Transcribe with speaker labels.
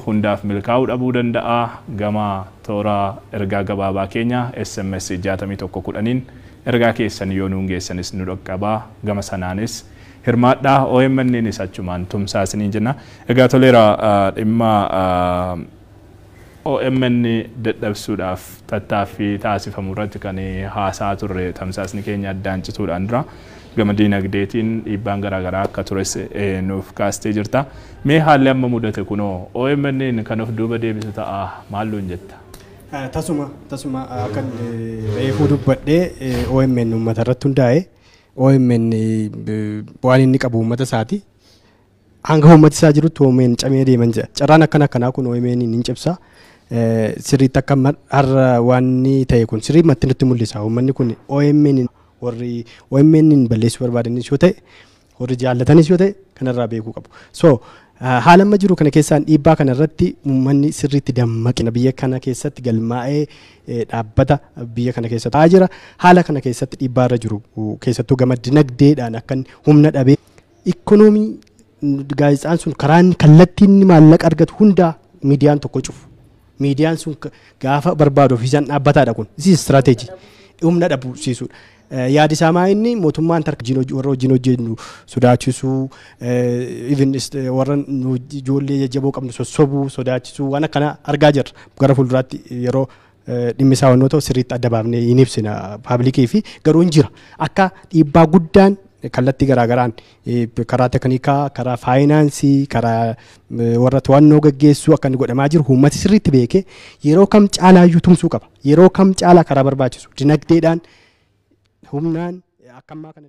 Speaker 1: hundaaf milkaa'uu dhabuu danda'a. Gama toora ergaa gabaabaa keenya sms 61 10'n ergaa keessan yoo nuun geessanis nu dhaqqaba. Gama sanaanis hirmaadhaa. OMN'nis achumaan tumsaa isiniin jenna. Egaa toleera dhimma omn dadhabsuudhaaf tattaaffii taasifamu irratti kan haasa'aa turre tamsaasni keenya addaan cituudhaan dura. Gama diinagdeetiin dhiibbaan garaagaraa akka tures nuuf kaastee jirta. Mee haalli amma mudate kunoo OMNn kan of duuba deebisu ta'a maal nuun jetta? Tasuma
Speaker 2: tasuma akkan reefuu dubbadhe OMN uummata irratti hundaa'e. OMN waan inni qabu uummata isaati. Hanga uummati isaa jirutti omn camee deeman jedha. Carraan akkana akkanaa kun omn hin cimsa. Sirriitti akka har'a waan ta'e kun sirriimmatti nutti mul'isa. Uummanni kun omn warri omn balleessuu barbaadanis yoo ta'e warri jaallatanis yoo ta'e kanarraa beekuu qabu. So haala amma jiru kana keessaan dhiibbaa kana irratti uummanni sirriitti dammaqina biyya kana keessatti galmaa'ee dhaabbata biyya kana keessa ta'aa jira. Haala kana keessatti dhiibbaa irra jiru keessattuu gama dinagdeedhaan akkan humna dhabee Ikkonoomii gaazexaan sun karaa inni kallattii inni maallaqa argatu hundaa miidiyaan tokko cufu. Miidiyaan sun gaafa barbaadu ofiisaan dhaabbataadha kun. This is strategy. Humna dhabsiisuudha. Yaadi isaa maa inni mootummaan tarkaanfii warra wajjin hojjennu sodaachisuu, even warra ijoollee jajjaboo qabnu sossobuu, sodaachisuu waan akkanaa argaa jirra. Gara fuulduraatti yeroo Dhimmi isaa wannoo ta'u sirriitti adda baafnee hin ibsina paablikii fi garuu hin jira. Akka dhiibbaa guddaan kallattii garaagaraan karaa teknikaa, karaa faayinaansii, karaa warra to'annoo gaggeessuu akka inni godhamaa jiru uummati sirriitti beekee yeroo kam caalaa iyyuu tumsuu qaba. Yeroo kam caalaa karaa barbaachisu dinagdeedhaan humnaan akka ammaa kana.